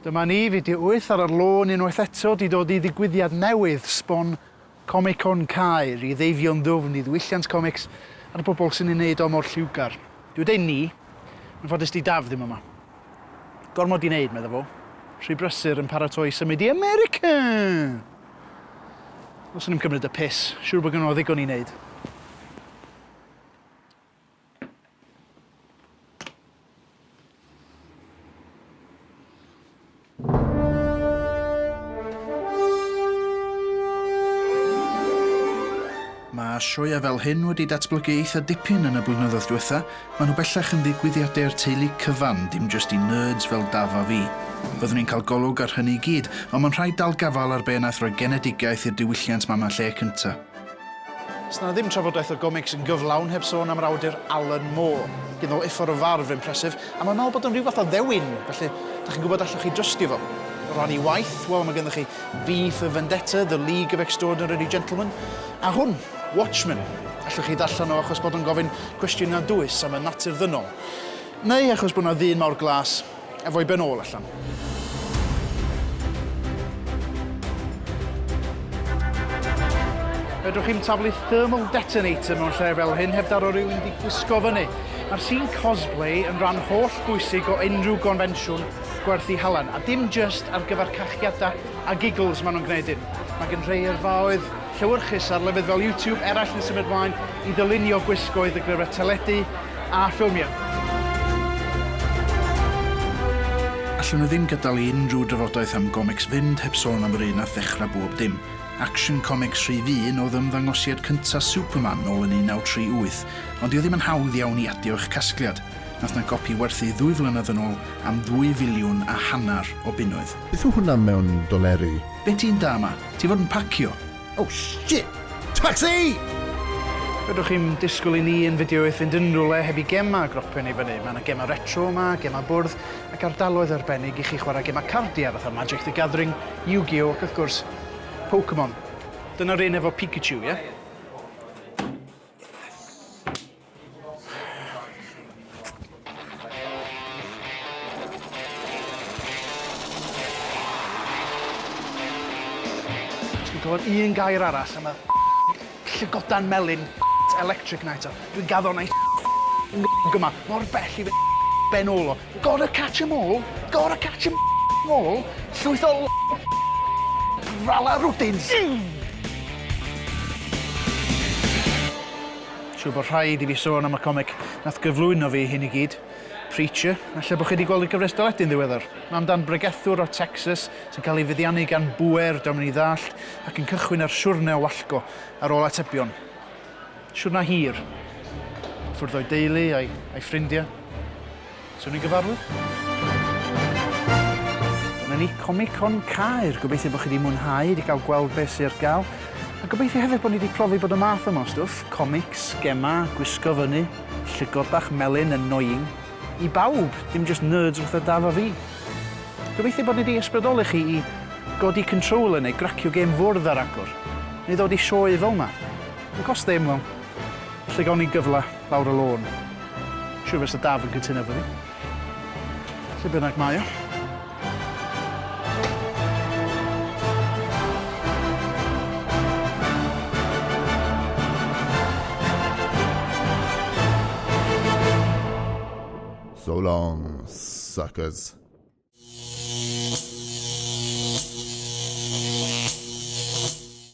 Dyma ni, fideo wyth ar yr lôn unwaith eto, 'di dod i ddigwyddiad newydd, sbon Comic-Con Caer, i ddeifio'n ddwfn i ddiwylliant comics a'r bobl sy'n ei wneud o mor lliwgar. Dwi deud 'ni', yn ffodus 'di Daf ddim yma. Gormod i wneud, medda fo. Rhy brysur yn paratoi i symud i America! Os o'n i'm cymryd y piss, siŵr bod gynno fo ddigon i wneud. Mae sioia fel hyn wedi datblygu eitha dipyn yn y blynyddoedd diwetha. Mae nhw bellach yn ddigwyddiadau'r teulu cyfan, dim jyst i nerds fel Daf a fi. Byddwn ni'n cael golwg ar hynny i gyd, ond mae'n rhaid dal gafal ar be wnaeth roi genedigaeth i'r diwylliant mama lle cynta. Sna ddim trafodaeth o gomics yn gyflawn heb sôn am yr awdur Alan Moore. Gyn ol uffar o farf impressive, a mae'n meddwl bod o'n rhyw fath o ddewin, felly dach chi'n gwybod allwch chi drystio fo. O ran ei waith, wel, mae ganddo chi V for Vendetta, The League of Extraordinary Gentlemen, a hwn, Watchmen. Allwch chi ddarllen o achos bod o'n gofyn cwestiynau dwys am y natur ddynol, neu achos bod 'na ddyn mawr glas Efo i ben ôl allan. Fedrwch chi'm taflu thermal detonator mewn lle fel hyn heb daro rhywun di gwisgo fyny. Mae'r sîn cosplay yn rhan holl bwysig o unrhyw gonfensiwn gwerthu halen, a dim jyst ar gyfer cachiadau a giggles maen nhw'n gwneud hyn. Mae gen rhai yrfaoedd llewyrchus ar lefydd fel YouTube eraill yn symud mlaen i ddylunio gwisgoedd y glyfrau teledu a ffilmiau. Allwn ni ddim gadael i unrhyw drafodaeth am gomics fynd heb sôn am yr un nath ddechrau bob dim, Action Comics rhif un oedd ymddangosiad cyntaf Superman nôl yn 1938, ond dyw e ddim yn hawdd iawn i adio i'ch casgliad, nath 'na gopi werthu ddwy flynedd yn ôl am ddwy filiwn a hanner o bunnoedd. Beth yw hwnna mewn doleri? Be ti'n da ma? Ti fod yn pacio? Oh shit! Tacsi! Fedrwch chi'm disgwyl i ni yn fideoydd fynd unrhywle heb i gema a gropen i fyny. Mae yna gema retro yma, gema bwrdd, ac ardaloedd arbennig i chi chwarae gema cardiau fatha Magic the Gathering, Yu-Gi-Oh ac wrth gwrs, Pokemon. Dyna'r un efo Pikachu, ie? Clywed un gair arall a ma' llygodan melyn electric na eto. Dwi'n gaddo na gyma mor bell i fy ben ôl o. Gotta catch 'em all, gotta catch 'em all, llwyth o rala rwdins. Siwr bod rhaid i fi sôn am y comic nath gyflwyno fi i hyn i gyd, Preacher. Ella bo chi 'di gweld y gyfres deledu'n ddiweddar. Mae amdan bregethwr o Texas sy'n cael ei feddiannu gan bŵer dio'm yn ei ddallt ac yn cychwyn ar siwrne o wallgo ar ôl atebion. Siwrna hir. Ffwrdd o'i deulu a'i ffrindiau. So ni'n gyfarwydd? Dyna ni, Comicon Caer. Gobeithio bod chi wedi mwynhau, wedi cael gweld beth sydd ar gael. A gobeithio hefyd bod ni wedi profi bod y math yma o stwff, comics, gemau, gwisgo fyny, llygod bach melyn, annoying, i bawb, dim jyst nerds fatha Daf a fi. Gobeithio bod ni wedi ysbrydoli chi i godi controller neu gracio gêm fwrdd ar agor, neu ddod i sioe fel 'ma. Yn cost ddim, wel, lle gawn ni gyfle? lawr y lôn. Siŵr fes y Daf yn cytuno efo fi. Lle bynnag mae o. So long, suckers.